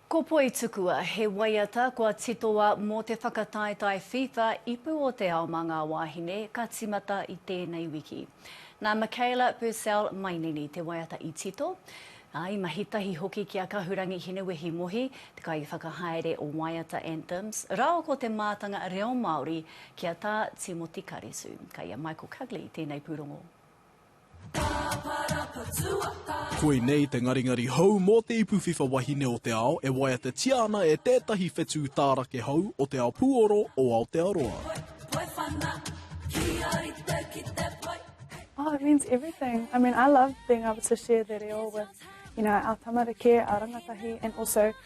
Ko Poitukua, he waiata kua titoa mō te whakataetae FIFA Ipu o te Ao mā ngā Wāhine ka tīmata i tēnei wiki. Nā Michaela Purcell Mainini te waiata i tito, ā, i mahi tahi hoki ki a Kahurangi Hinewehi Mohi, te kaiwhakahaere o Waiata Anthems, rāua ko te mātanga reo Māori ki a Tā Timoti Karitu. Kai a Michael Cugley tēnei pūrongo. Koinei te ngaringari hou mō te ipu whiwha wahine o te ao e waiatatia ana e tētahi whetū tārake hou o te ao pūoro o Aotearoa. Oh it means everything, I mean I love being able to share the reo with you know our tamariki, our rangatahi and also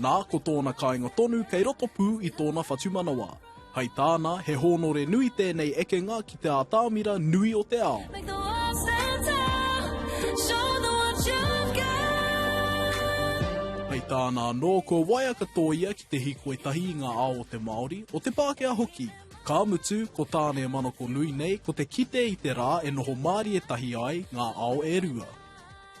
Nā, ko tōna kāinga tonu kei roto pū i tōna whatumanawa. Hai tāna, he hōnore nui tēnei ekenga ki te ātamira nui o te ao. Hai tāna anō, kua waia katoa ia ki te hīkoi tahi i ngā ao o te Māori, o te Pākehā hoki. Ka mutu, ko tāna e manakonui nei, ko te kite i te rā e noho mārie tahi ai ngā ao e rua.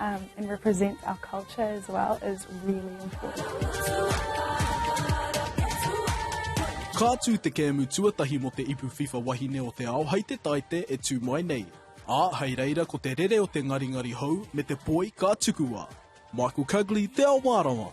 um, and represents our culture as well is really important. Ka tū te kēmu tuatahi mo te ipu FIFA wahine o te ao hai te taite e tū mai nei. A, hai reira ko te rere o te ngaringari hou me te poi ka tukua. Michael Cugley, Te Ao Mārawa.